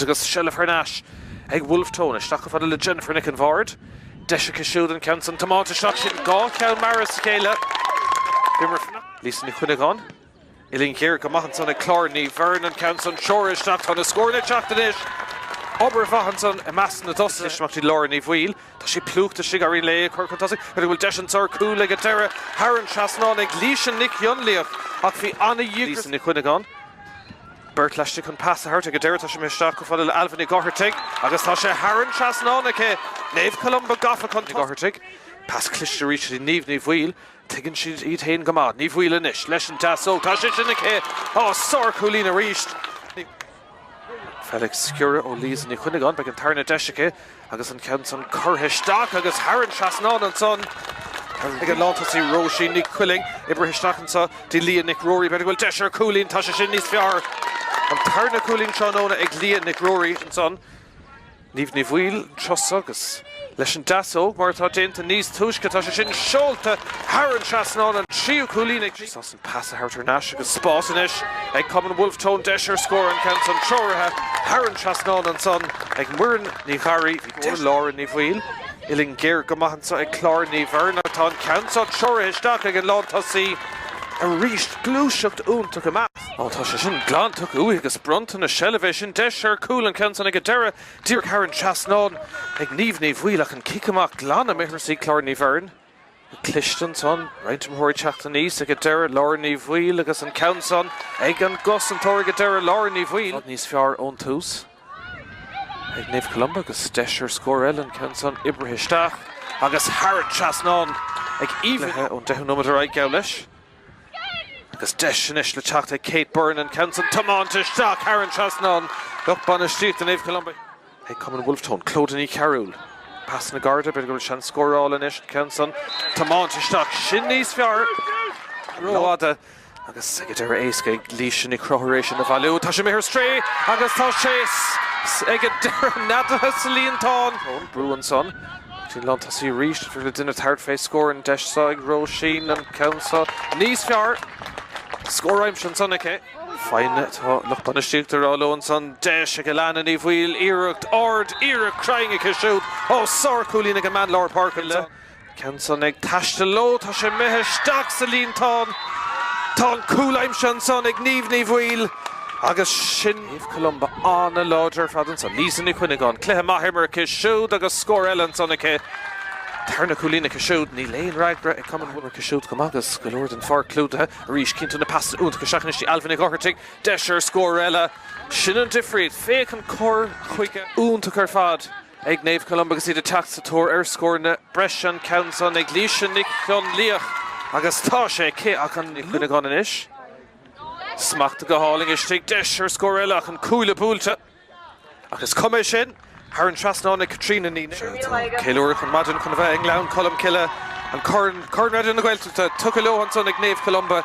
agus seilbh thar n-ais ag Wolfe Tone. Isteach go fada le Jennifer Nic an Bhaird. Deis aici siúd an ceann san tiománta isteach. Sin dhá cheann mear as a chéile. B'imreoir fanacht í Lisa Ní Chuinneagáin. Uillinn ghéar go maith ansan ag Clár Ní Bheirn. An ceann san treoraithe isteach. Tá na scóir ag teacht anois. Obair mhaith ansan i measc na dtosaithe is imeachtaí Lára Ní Bhaoill. Tá sí plúchta istigh. Éiríonn léi é chur chun tosaigh. B'fhéidir go bhfuil deis anso ar chúl ag an deireadh. Thar an trasnán ag Laoise Nic Fhionnlaoich ach bhí ana-dhíograis ag Lisa Ní Chuinneagáin. Beirt laistigh chun pas a thabhairt ag an deireadh. Tá sé imithe isteach go fóill le Ailbhe Nig Othartaigh agus tá sé thar an trasnán aici. Naomh Columba gafa chun tosaigh. Nig Othartaigh. Pas cliste arís go dtí Niamh Ní Bhaoill. Tuigeann siad iad féin go maith. Ní Bhaoill anois. Leis an deasóg. Tá sé sin aici! Á, sárchúilín arís. Féach sciorradh ó Lisa Ní Chuinneagáin. Beidh an tarna deis aici. Agus an ceann san curtha isteach agus thar an trasnán ansan ag an lántosaí Róisín Nic Coiling. Oibrithe isteach anso dtí Lia Nic Ruairí. B'fhéidir go bhfuil deis ar chúilín. Tá sé sin níos fearr. An tarna cúilín tráthnóna ag Lia Nic Ruairí ansan. Niamh Ní Bhaoill anso agus leis an deasóg mar atá déanta níos túisce. Tá sé sin seolta thar an trasnán. An tríú cúilín ag. Pas a thabhairt thar n-ais agus spás anois ag cumann Bhulf Tón. Deis ar scór an ceann san treoraithe thar an trasnán ansan ag Muireann Ní Gharraí. Go dtí Lára Ní Bhaoill. Uillinn ghéar go maith anso ag Clár Ní Bheirn ach tá an ceann san treoraithe isteach ag an lántosaí arís. Gluaiseacht iontach amach. Ó tá sé sin glan tugtha uaithi agus bronnta na seilbhe. B'in deis ar chúl an ceann san ag an deireadh díreach thar an trasnán ag Niamh Ní Bhaoill ach an cic amach glan imithe thar shúile Chlár Ní Bheirn. Cliste ansan, roinnt imreoirí ag teacht aníos ag an deireadh, Lára Ní Bhaoill agus an ceann san ag an gcosantóir ag an deireadh, Lára Ní Bhaoill. Níos fearr ón tús ag Naomh Columba agus deis ar scór eile, an ceann san oibrithe isteach agus thar an trasnán ag Aoibhinn ón deichiú nóiméad ar aghaidh, geall leis. Agus deis anois le teacht ag Kate Byrne an ceann san tiománta isteach thar an trasnán. Lucht bainistíochta Naomh Columba. Ag Cumann Wolfe Tone, Clodagh Ní Chearúil. Pasanna gearra, b'fhéidir go bhfuil seans scórála anois, an ceann san tiománta isteach, sin níos fearr! Rófhada agus ag an deireadh éasca ag Laoise Nic Fhionnlaoich é sin a bhailiú. Tá sé imithe ar strae agus tá sé ag an deireadh neadaithe sa líontán. Tone, brú ansan. Sin lántosaí arís, éiríonn le duine tabhairt fé scór, an deis seo ag Róisín, an ceann seo níos fearr, scór aimsithe ansan aici. Foighne atá lucht bainistíochta ag rá leo ansan, deis ag Alana Ní Bhaoill, iarracht ard, iarracht chruinn aici siúd, ó sárchúilín ag an mbean lár páirce ansan. Ceann san ag taisteal leo, tá sé imithe isteach sa líontán, tá an cúl aimsithe ansan ag Niamh Ní Bhaoill agus sin. Naomh Columba an-láidir ar fad ansan. Lisa Ní Chuinneagáin, cluiche maith imeartha aici siúd agus scór eile ansan aici. An tarna cúilín aici siúd, níl aon fhreagra ag Cumann Mhuineachán. Imeartha aici siúd go maith agus go leor den pháirc clúdaithe arís. Cinntiú na pasanna iontacha isteach anois di. Ailbhe Ní Dhochartaigh, deis ar scór eile. Sin an difríocht. Féach an cur chuige iontach ar fad ag Naomh Columba agus iad ag teacht sa tóir ar scór na breise. An ceann san ag Laoise Nic Fhionnlaoich agus tá sé aici ach an Ní Chuinneagáin anois. Smacht go hálainn istigh, deis ar scór eile ach an cuaille buailte. Ach is cuma é sin, thar an trasnán ag Caitríona Ní Néill. Tá ceiliúradh go maidin chun a bheith i nGleann Cholm Cille, an corn, Corn Raidió na Gaeltachta, tugtha leo ansan ag Naomh Columba.